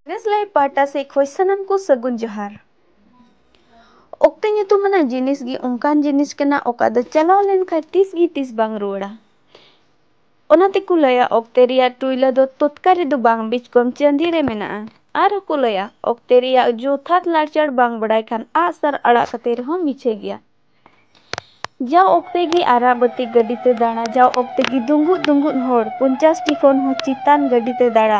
ᱱᱮᱥ ᱞᱟᱭᱤᱵᱷ ᱯᱟᱦᱴᱟ ᱥᱮᱡ ᱠᱷᱚᱡ ᱥᱟᱱᱟᱢ ᱠᱚ ᱥᱟᱹᱜᱩᱱ ᱡᱚᱦᱟᱨ᱾ ᱚᱠᱛᱮ ᱧᱩᱛᱩᱢᱟᱱᱟᱜ ᱡᱤᱱᱤᱥ ᱜᱮ ᱚᱱᱠᱟᱱ ᱡᱤᱱᱤᱥ ᱠᱟᱱᱟ ᱚᱠᱟ ᱫᱚ ᱪᱟᱞᱟᱣ ᱞᱮᱱ ᱠᱷᱟᱡ ᱛᱤᱥ ᱜᱮ ᱛᱤᱥ ᱵᱟᱝ ᱨᱩᱣᱟᱹᱲᱟ᱾ ᱚᱱᱟ ᱛᱮ ᱠᱚ ᱞᱟᱹᱭᱟ ᱚᱠᱛᱮ ᱨᱮᱭᱟᱜ ᱴᱩᱭᱞᱟᱹ ᱫᱚ ᱛᱚᱛᱠᱟ ᱨᱮ ᱫᱚ ᱵᱟᱝ ᱵᱤᱡᱽ ᱠᱚᱢ ᱪᱟᱸᱫᱤ ᱨᱮ ᱢᱮᱱᱟᱜᱼᱟ᱾ ᱟᱨ ᱦᱚᱸ ᱠᱚ ᱞᱟᱹᱭᱟ ᱚᱠᱛᱮ ᱨᱮᱭᱟᱜ ᱡᱚᱛᱷᱟᱛ ᱞᱟᱲᱪᱟᱲ ᱵᱟᱝ ᱵᱟᱲᱟᱭ ᱠᱷᱟᱱ ᱟᱜ ᱥᱟᱨ ᱟᱲᱟᱜ ᱠᱟᱛᱮ ᱨᱮᱦᱚᱸ ᱢᱤᱪᱷᱟᱹ ᱜᱮᱭᱟ᱾ ᱡᱟᱣ ᱚᱠᱛᱮ ᱜᱮ ᱟᱨᱟᱜ ᱵᱟᱹᱛᱤ ᱜᱟᱹᱰᱤ ᱛᱮ ᱫᱟᱬᱟ ᱡᱟᱣ ᱚᱠᱛᱮ ᱜᱮ ᱫᱩᱸᱜᱩᱫ ᱫᱩᱸᱜᱩᱫ ᱦᱚᱲ ᱯᱚᱧᱪᱟᱥ ᱴᱤ ᱠᱷᱚᱱ ᱦᱚᱸ ᱪᱮᱛᱟᱱ ᱜᱟᱹᱰᱤ ᱛᱮ ᱫᱟᱬᱟ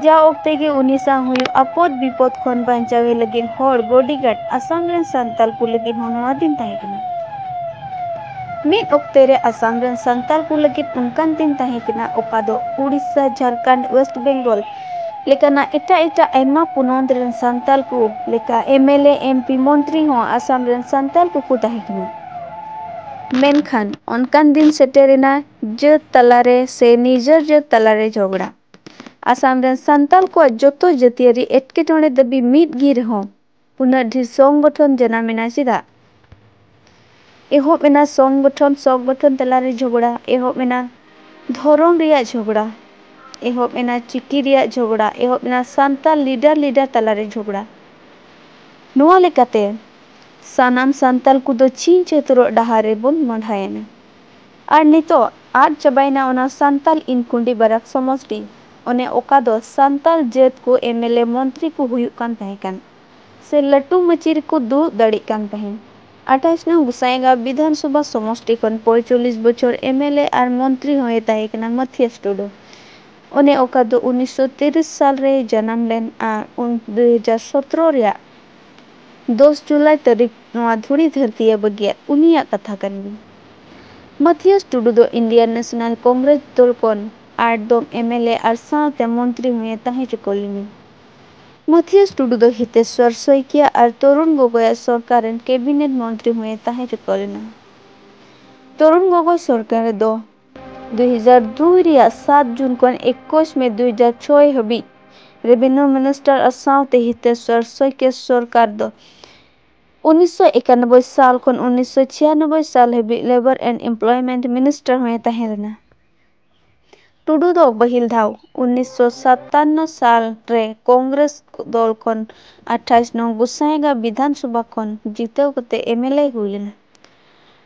ᱡᱟᱣ ᱚᱠᱛᱮ ᱜᱮ ᱩᱱᱤ ᱥᱟᱶ ᱦᱩᱭᱩᱜ ᱟᱯᱚᱫ ᱵᱤᱯᱚᱫ ᱠᱷᱚᱱ ᱵᱟᱧᱪᱟᱣᱮ ᱞᱟᱹᱜᱤᱫ ᱦᱚᱲ ᱵᱚᱰᱤᱜᱟᱨᱰ ᱟᱥᱟᱢ ᱨᱮᱱ ᱥᱟᱱᱛᱟᱞ ᱠᱚ ᱞᱟᱹᱜᱤᱫ ᱦᱚᱸ ᱱᱚᱶᱟ ᱫᱤᱱ ᱛᱟᱦᱮᱸ ᱠᱟᱱᱟ ᱢᱤᱫ ᱚᱠᱛᱮ ᱨᱮ ᱟᱥᱟᱢ ᱨᱮᱱ ᱥᱟᱱᱛᱟᱞ ᱠᱚ ᱞᱟᱹᱜᱤᱫ ᱚᱱᱠᱟᱱ ᱫᱤᱱ ᱛᱟᱦᱮᱸ ᱠᱟᱱᱟ ᱚᱠᱟ ᱫᱚ ᱳᱰᱤᱥᱟ ᱡᱷᱟᱨᱠᱷᱚᱸᱰ ᱳᱭᱮᱥᱴ ᱵᱮᱝᱜᱚᱞ ᱞᱮᱠᱟᱱᱟᱜ ᱮᱴᱟᱜ ᱮᱴᱟᱜ ᱟᱭᱢᱟ ᱯᱚᱱᱚᱛ ᱨᱮᱱ ᱥᱟᱱᱛᱟᱞ ᱠᱚ ᱞᱮᱠᱟ ᱮᱢᱮᱞᱮ, ᱮᱢᱯᱤ, ᱢᱚᱱᱛᱨᱤ ᱦᱚᱸ ᱟᱥᱟᱢ ᱨᱮᱱ ᱥᱟᱱᱛᱟᱞ ᱠᱚᱠᱚ ᱛᱟᱦᱮᱸ ᱠᱟᱱᱟ᱾ ᱢᱮᱱᱠᱷᱟᱱ ᱚᱱᱠᱟᱱ ᱫᱤᱱ ᱥᱮᱴᱮᱨ ᱮᱱᱟ ᱡᱟᱹᱛ ᱛᱟᱞᱟ ᱨᱮ ᱥᱮ ᱱᱤᱡᱚᱨ ᱡᱟᱹᱛ ᱛᱟᱞᱟ ᱨᱮ ᱡᱷᱚᱜᱽᱲᱟ᱾ ᱟᱥᱟᱢ ᱨᱮᱱ ᱥᱟᱱᱛᱟᱞ ᱠᱚᱣᱟᱜ ᱡᱚᱛᱚ ᱡᱟᱹᱛᱤᱭᱟᱹᱨᱤ ᱮᱴᱠᱮᱴᱚᱬᱮ ᱫᱟᱹᱵᱤ ᱢᱤᱫ ᱜᱮ ᱨᱮᱦᱚᱸ ᱩᱱᱟᱹᱜ ᱰᱷᱤᱨ ᱥᱚᱝᱜᱚᱴᱷᱚᱱ ᱡᱟᱱᱟᱢ ᱮᱱᱟ ᱪᱮᱫᱟᱜ? ᱮᱦᱚᱵ ᱮᱱᱟ ᱥᱚᱝᱜᱚᱴᱷᱚᱱ ᱥᱚᱝᱜᱚᱴᱷᱚᱱ ᱛᱟᱞᱟ ᱨᱮ ᱡᱷᱚᱜᱽᱲᱟ ᱮᱦᱚᱵ ᱮᱱᱟ ᱫᱷᱚᱨᱚᱢ ᱨᱮᱭᱟᱜ ᱡᱷᱚᱜᱽᱲᱟ ᱮᱦᱚᱵ ᱮᱱᱟ ᱪᱤᱠᱤ ᱨᱮᱭᱟᱜ ᱡᱷᱚᱜᱽᱲᱟ ᱮᱦᱚᱵ ᱮᱱᱟ ᱥᱟᱱᱛᱟᱞ ᱞᱤᱰᱟᱨ ᱞᱤᱰᱟᱨ ᱛᱟᱞᱟ ᱨᱮ ᱡᱷᱚᱜᱽᱲᱟ ᱱᱚᱶᱟ ᱞᱮᱠᱟᱛᱮ ᱥᱟᱱᱟᱢ ᱥᱟᱱᱛᱟᱞ ᱠᱚ ᱫᱚ ᱪᱷᱤᱝ ᱪᱷᱟᱹᱛᱩᱨᱚᱜ ᱰᱟᱦᱟᱨ ᱨᱮ ᱵᱚᱱ ᱢᱚᱸᱰᱷᱟᱭᱮᱱᱟ ᱟᱨ ᱱᱤᱛᱚᱜ ᱟᱫ ᱪᱟᱵᱟᱭᱮᱱᱟ ᱚᱱᱟ ᱥᱟᱱᱛᱟᱞ ᱤᱱ ᱠᱩᱸᱰᱤ ᱵᱟᱨᱟᱠ ᱥᱚᱢᱚᱥᱴᱤ ᱚᱱᱮ ᱚᱠᱟ ᱫᱚ ᱥᱟᱱᱛᱟᱞ ᱡᱟᱹᱛ ᱠᱚ ᱮᱢᱮᱞᱮ ᱢᱚᱱᱛᱨᱤ ᱠᱚ ᱦᱩᱭᱩᱜ ᱠᱟᱱ ᱛᱟᱦᱮᱸ ᱠᱟᱱ ᱥᱮ ᱞᱟᱹᱴᱩ ᱢᱟᱹᱪᱤ ᱨᱮᱠᱚ ᱫᱩᱲᱩᱵ ᱫᱟᱲᱮᱜ ᱠᱟᱱ ᱛᱟᱦᱮᱸᱱ ᱟᱴᱷᱟᱭᱤᱥ ᱱᱚᱝ ᱜᱚᱸᱥᱟᱭᱜᱟᱸᱣ ᱵᱤᱫᱷᱟᱱ ᱥᱚᱵᱷᱟ ᱥᱚᱢᱚᱥᱴᱤ ᱠᱷᱚᱱ ᱯᱚᱸᱭᱪᱚᱞᱞᱤᱥ ᱵᱚᱪᱷᱚᱨ ᱮᱢᱮᱞᱮ ᱟᱨ ᱢᱚᱱᱛᱨᱤ ᱦᱚᱸ ᱮ ᱛᱟᱦᱮᱸ ᱠᱟᱱᱟ ᱢᱟᱛᱷᱤᱭᱟᱥ ᱴᱩᱰᱩ ᱚᱱᱮ ᱚᱠᱟ ᱫᱚ ᱩᱱᱤᱥᱥᱚ ᱛᱤᱨᱤᱥ ᱥᱟᱞ ᱨᱮᱭ ᱡᱟᱱᱟᱢ ᱞᱮᱱ ᱟᱨ ᱩᱱ ᱫᱩᱭ ᱦᱟᱡᱟᱨ ᱥᱚᱛᱨᱚ ᱨᱮᱭᱟᱜ ᱫᱚᱥ ᱡᱩᱞᱟᱭ ᱛᱟᱹᱨᱤᱠᱷ ᱱᱚᱣᱟ ᱫᱷᱩᱲᱤ ᱫᱷᱟᱹᱨᱛᱤ ᱮ ᱵᱟᱹᱜᱤᱭᱟᱫ ᱩᱱᱤᱭᱟᱜ ᱠᱟᱛᱷᱟ ᱠᱟᱱ ᱜᱮᱭᱟ᱾ ᱢᱟᱛᱷᱤᱭᱚᱥ ᱴᱩᱰᱩ ᱫᱚ ᱤᱱᱰᱤᱭᱟᱱ ᱱᱮᱥᱚᱱᱟᱞ ᱠᱚᱝᱜᱽᱨᱮᱥ ᱫᱚᱞ ᱠᱷᱚᱱ ᱟᱴ ᱫᱚᱢ ᱮᱢᱮᱞᱮ ᱟᱨ ᱥᱟᱶᱛᱮ ᱢᱚᱱᱛᱨᱤ ᱦᱚᱸᱭᱮ ᱛᱟᱦᱮᱸ ᱪᱩᱠᱟᱹᱣ ᱞᱮᱱᱟ᱾ ᱢᱟᱛᱷᱤᱭᱚᱥ ᱴᱩᱰᱩ ᱫᱚ ᱦᱤᱛᱮᱥᱣᱚᱨ ᱥᱚᱭᱠᱤᱭᱟ ᱟᱨ ᱛᱚᱨᱩᱱ ᱜᱚᱜᱚᱭ ᱟᱜ ᱥᱚᱨᱠᱟᱨ ᱨᱮᱱ ᱠᱮᱵᱤᱱᱮᱴ ᱢᱚᱱᱛᱨᱤ ᱦᱚᱸᱭᱮ ᱛᱟᱦᱮᱸ ᱪᱩᱠᱟᱹᱣ ᱞᱮᱱᱟ᱾ ᱛᱚᱨᱩᱱ ᱜᱚᱜᱚᱭ ᱥᱚᱨᱠᱟᱨ ᱨᱮ ᱫᱚ᱾ ᱫᱩᱭ ᱦᱟᱡᱟᱨ ᱫᱩᱭ ᱨᱮᱭᱟᱜ ᱥᱟᱛ ᱡᱩᱱ ᱠᱷᱚᱱ ᱮᱠᱩᱥ ᱢᱮ ᱫᱩᱭ ᱦᱟᱡᱟᱨ ᱪᱷᱚᱭ ᱦᱟᱹᱵᱤᱡ ᱨᱮᱵᱷᱮᱱᱭᱩ ᱢᱤᱱᱤᱥᱴᱟᱨ ᱟᱨ ᱥᱟᱶᱛᱮ ᱦᱤᱛᱮᱥᱣᱚᱨ ᱥᱚᱭᱠᱮ ᱥᱚᱨᱠᱟᱨ ᱫᱚ ᱩᱱᱤᱥᱥᱚ ᱮᱠᱟᱱᱚᱵᱵᱚᱭ ᱥᱟᱞ ᱠᱷᱚᱱ ᱩᱱᱤᱥᱥᱚ ᱪᱷᱤᱭᱟᱱᱚᱵᱵᱚᱭ ᱥᱟᱞ ᱦᱟᱹᱵᱤᱡ ᱞᱮᱵᱚᱨ ᱮᱱᱰ ᱮᱢᱯᱞᱚᱭᱢᱮᱱᱴ ᱢᱤᱱᱤᱥᱴᱟᱨ ᱦᱚᱸᱭ ᱛᱟᱦᱮᱸ ᱞᱮᱱᱟ᱾ ᱴᱩᱰᱩ ᱫᱚ ᱯᱟᱹᱦᱤᱞ ᱫᱷᱟᱣ ᱩᱱᱤᱥᱥᱚ ᱥᱟᱛᱟᱱᱱᱚ ᱥᱟᱞ ᱨᱮ ᱠᱚᱝᱜᱽᱨᱮᱥ ᱫᱚᱞ ᱠᱷᱚᱱ ᱟᱴᱷᱟᱭᱤᱥ ᱱᱚᱝ ᱜᱚᱥᱟᱸᱭᱜᱟᱸᱣ ᱵᱤᱫᱷᱟᱱᱥᱚᱵᱷᱟ ᱠᱷᱚᱱ ᱡᱤᱛᱟᱹᱣ ᱠᱟᱛᱮ ᱮᱢᱮᱞᱮᱭ ᱦᱩᱭ ᱞᱮᱱᱟ᱾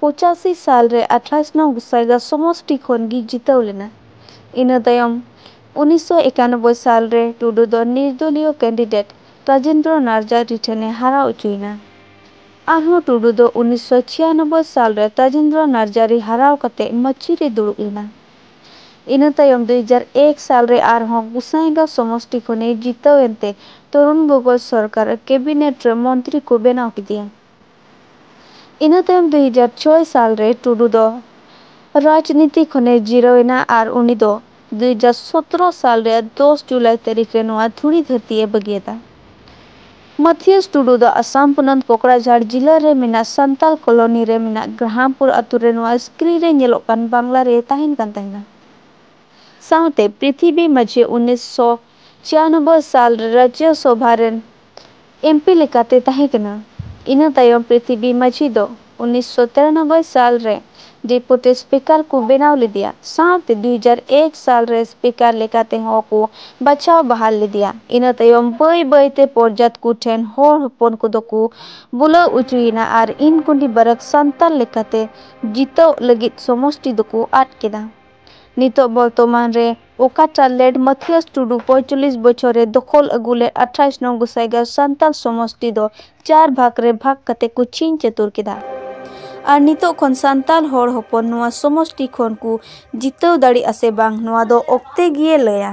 ᱯᱚᱸᱪᱟᱥᱤ ᱥᱟᱞ ᱨᱮ ᱟᱴᱷᱟᱥ ᱱᱚᱝ ᱜᱚᱥᱟᱭᱜᱟᱸᱣ ᱥᱚᱢᱚᱥᱴᱤ ᱠᱷᱚᱱ ᱜᱮ ᱡᱤᱛᱟᱹᱣ ᱞᱮᱱᱟ᱾ ᱤᱱᱟᱹ ᱛᱟᱭᱚᱢ ᱩᱱᱤᱥ ᱥᱚ ᱮᱠᱟᱱᱚᱵᱵᱚᱭ ᱥᱟᱞ ᱨᱮ ᱴᱩᱰᱩ ᱫᱚ ᱱᱤᱨᱫᱚᱞᱤᱭᱚ ᱠᱮᱱᱰᱤᱰᱮᱴ ᱨᱟᱡᱮᱱᱫᱨᱚ ᱱᱟᱨᱡᱟ ᱰᱤ ᱴᱷᱮᱱ ᱮ ᱦᱟᱨᱟᱣ ᱚᱪᱚᱭᱮᱱᱟ᱾ ᱟᱨᱦᱚᱸ ᱴᱩᱰᱩ ᱫᱚ ᱩᱱᱤᱥ ᱥᱚ ᱪᱷᱤᱭᱟᱱᱚᱵᱵᱚᱭ ᱥᱟᱞ ᱨᱮ ᱛᱟᱡᱮᱱᱫᱨᱚ ᱱᱟᱨᱡᱟ ᱨᱤ ᱦᱟᱨᱟᱣ ᱠᱟᱛᱮ ᱢᱟᱹᱪᱷᱤ ᱨᱮᱭ ᱫᱩᱲᱩᱵ ᱞᱮᱱᱟ᱾ ᱤᱱᱟᱹ ᱛᱟᱭᱚᱢ ᱫᱩᱭ ᱦᱟᱡᱟᱨ ᱮᱠ ᱥᱟᱞ ᱨᱮ ᱟᱨᱦᱚᱸ ᱜᱚᱥᱟᱸᱭᱜᱟᱸᱣ ᱥᱚᱢᱚᱥᱴᱤ ᱠᱷᱚᱱ ᱮ ᱡᱤᱛᱟᱹᱣ ᱮᱱᱛᱮ ᱛᱚᱨᱩᱱ ᱜᱚᱜᱚᱭ ᱥᱚᱨᱠᱟᱨ ᱟᱨ ᱠᱮᱵᱤᱱᱮᱴ ᱨᱮ ᱢᱚᱱᱛᱨᱤ ᱠᱚ ᱵᱮᱱᱟᱣ ᱠᱮᱫᱮᱭᱟ᱾ ᱤᱱᱟᱹ ᱛᱟᱭᱚᱢ ᱫᱩ ᱦᱟᱡᱟᱨ ᱪᱷᱚᱭ ᱥᱟᱞ ᱨᱮ ᱴᱩᱰᱩ ᱫᱚ ᱨᱟᱡᱽᱱᱤᱛᱤ ᱠᱷᱚᱱ ᱮ ᱡᱤᱨᱟᱹᱣ ᱮᱱᱟ ᱟᱨ ᱩᱱᱤ ᱫᱚ ᱫᱩ ᱦᱟᱡᱟᱨ ᱥᱚᱛᱨᱚ ᱥᱟᱞ ᱨᱮᱭᱟᱜ ᱫᱚᱥ ᱡᱩᱞᱟᱭ ᱛᱟᱹᱨᱤᱠᱷ ᱨᱮ ᱱᱚᱣᱟ ᱫᱷᱩᱲᱤ ᱫᱷᱟᱹᱨᱛᱤ ᱮ ᱵᱟᱹᱜᱤᱭᱟᱫᱟ᱾ ᱢᱟᱛᱷᱤᱭᱟᱥ ᱴᱩᱰᱩ ᱫᱚ ᱟᱥᱟᱢ ᱯᱚᱱᱚᱛ ᱠᱚᱠᱲᱟᱡᱷᱟᱲ ᱡᱤᱞᱟ ᱨᱮ ᱢᱮᱱᱟᱜ ᱥᱟᱱᱛᱟᱞ ᱠᱚᱞᱚᱱᱤ ᱨᱮ ᱢᱮᱱᱟᱜ ᱜᱨᱟᱦᱟᱢᱯᱩᱨ ᱟᱹᱛᱩ ᱨᱮ ᱱᱚᱣᱟ ᱥᱠᱨᱤᱱ ᱨᱮ ᱧᱮᱞᱚᱜ ᱠᱟᱱ ᱵᱟᱝᱞᱟ ᱨᱮᱭ ᱛᱟᱦᱮᱸᱱ ᱠᱟᱱ ᱛᱟᱦᱮᱸᱱᱟ᱾ ᱥᱟᱶᱛᱮ ᱯᱨᱤᱛᱷᱤᱵᱤ ᱢᱟᱡᱷᱤ ᱩᱱᱤᱥ ᱥᱚ ᱪᱷᱤᱭᱟᱱᱚᱵᱵᱚᱭ ᱥᱟᱞ ᱨᱮ ᱨᱟᱡᱭᱚ ᱥᱚᱵᱷᱟ ᱨᱮᱱ ᱮᱢ ᱯᱤ ᱞᱮᱠᱟᱛᱮᱭ ᱛᱟᱦᱮᱸ ᱠᱟᱱᱟ᱾ ᱤᱱᱟᱹ ᱛᱟᱭᱚᱢ ᱯᱨᱤᱛᱷᱤᱵᱤ ᱢᱟᱹᱡᱷᱤ ᱫᱚ ᱩᱱᱤᱥ ᱥᱚ ᱛᱤᱨᱟᱱᱚᱵᱵᱚᱭ ᱥᱟᱞ ᱨᱮ ᱰᱮᱯᱩᱴᱤ ᱥᱯᱤᱠᱟᱨ ᱠᱚ ᱵᱮᱱᱟᱣ ᱞᱮᱫᱮᱭᱟ ᱥᱟᱶᱛᱮ ᱫᱩᱭ ᱦᱟᱡᱟᱨ ᱮᱠ ᱥᱟᱞ ᱨᱮ ᱥᱯᱤᱠᱟᱨ ᱞᱮᱠᱟᱛᱮ ᱦᱚᱸ ᱠᱚ ᱵᱟᱪᱷᱟᱣ ᱵᱟᱦᱟᱞ ᱞᱮᱫᱮᱭᱟ᱾ ᱤᱱᱟᱹ ᱛᱟᱭᱚᱢ ᱵᱟᱹᱭ ᱵᱟᱹᱭ ᱛᱮ ᱯᱚᱨᱡᱟᱛ ᱠᱚ ᱴᱷᱮᱱ ᱦᱚᱲ ᱦᱚᱯᱚᱱ ᱠᱚ ᱫᱚ ᱠᱚ ᱵᱩᱞᱟᱹᱣ ᱚᱪᱚᱭᱮᱱᱟ ᱟᱨ ᱤᱱᱠᱩᱱᱰᱤ ᱵᱟᱨᱟᱠ ᱥᱟᱱᱛᱟᱞ ᱞᱮᱠᱟᱛᱮ ᱡᱤᱛᱟᱹᱣᱜ ᱞᱟᱹᱜᱤᱫ ᱥᱚᱢᱚᱥᱴᱤ ᱫᱚ ᱠᱚ ᱟᱫ ᱠᱮᱫᱟ᱾ ᱱᱤᱛᱚᱜ ᱵᱚᱨᱛᱚᱢᱟᱱ ᱨᱮ ᱚᱠᱟ ᱴᱟᱜ ᱞᱮᱰ ᱢᱟᱛᱷᱤᱭᱟᱥ ᱴᱩᱰᱩ ᱯᱚᱸᱭᱛᱟᱞᱞᱤᱥ ᱵᱚᱪᱷᱚᱨ ᱨᱮ ᱫᱚᱠᱷᱚᱞ ᱟᱹᱜᱩ ᱞᱮᱫ ᱟᱴᱷᱟᱭᱤᱥ ᱱᱚᱝ ᱜᱚᱥᱟᱭᱜᱟᱶ ᱥᱟᱱᱛᱟᱞ ᱥᱚᱢᱚᱥᱴᱤ ᱫᱚ ᱪᱟᱨ ᱵᱷᱟᱜᱽ ᱨᱮ ᱵᱷᱟᱜᱽ ᱠᱟᱛᱮ ᱠᱚ ᱪᱷᱤᱧ ᱪᱟᱹᱛᱩᱨ ᱠᱮᱫᱟ ᱟᱨ ᱱᱤᱛᱚᱜ ᱠᱷᱚᱱ ᱥᱟᱱᱛᱟᱞ ᱦᱚᱲ ᱦᱚᱯᱚᱱ ᱱᱚᱶᱟ ᱥᱚᱢᱚᱥᱴᱤ ᱠᱷᱚᱱ ᱠᱚ ᱡᱤᱛᱟᱹᱣ ᱫᱟᱲᱮᱜ ᱟᱥᱮ ᱵᱟᱝ ᱱᱚᱶᱟ ᱫᱚ ᱚᱠᱛᱮ ᱜᱮᱭᱮ ᱞᱟᱹᱭᱟ᱾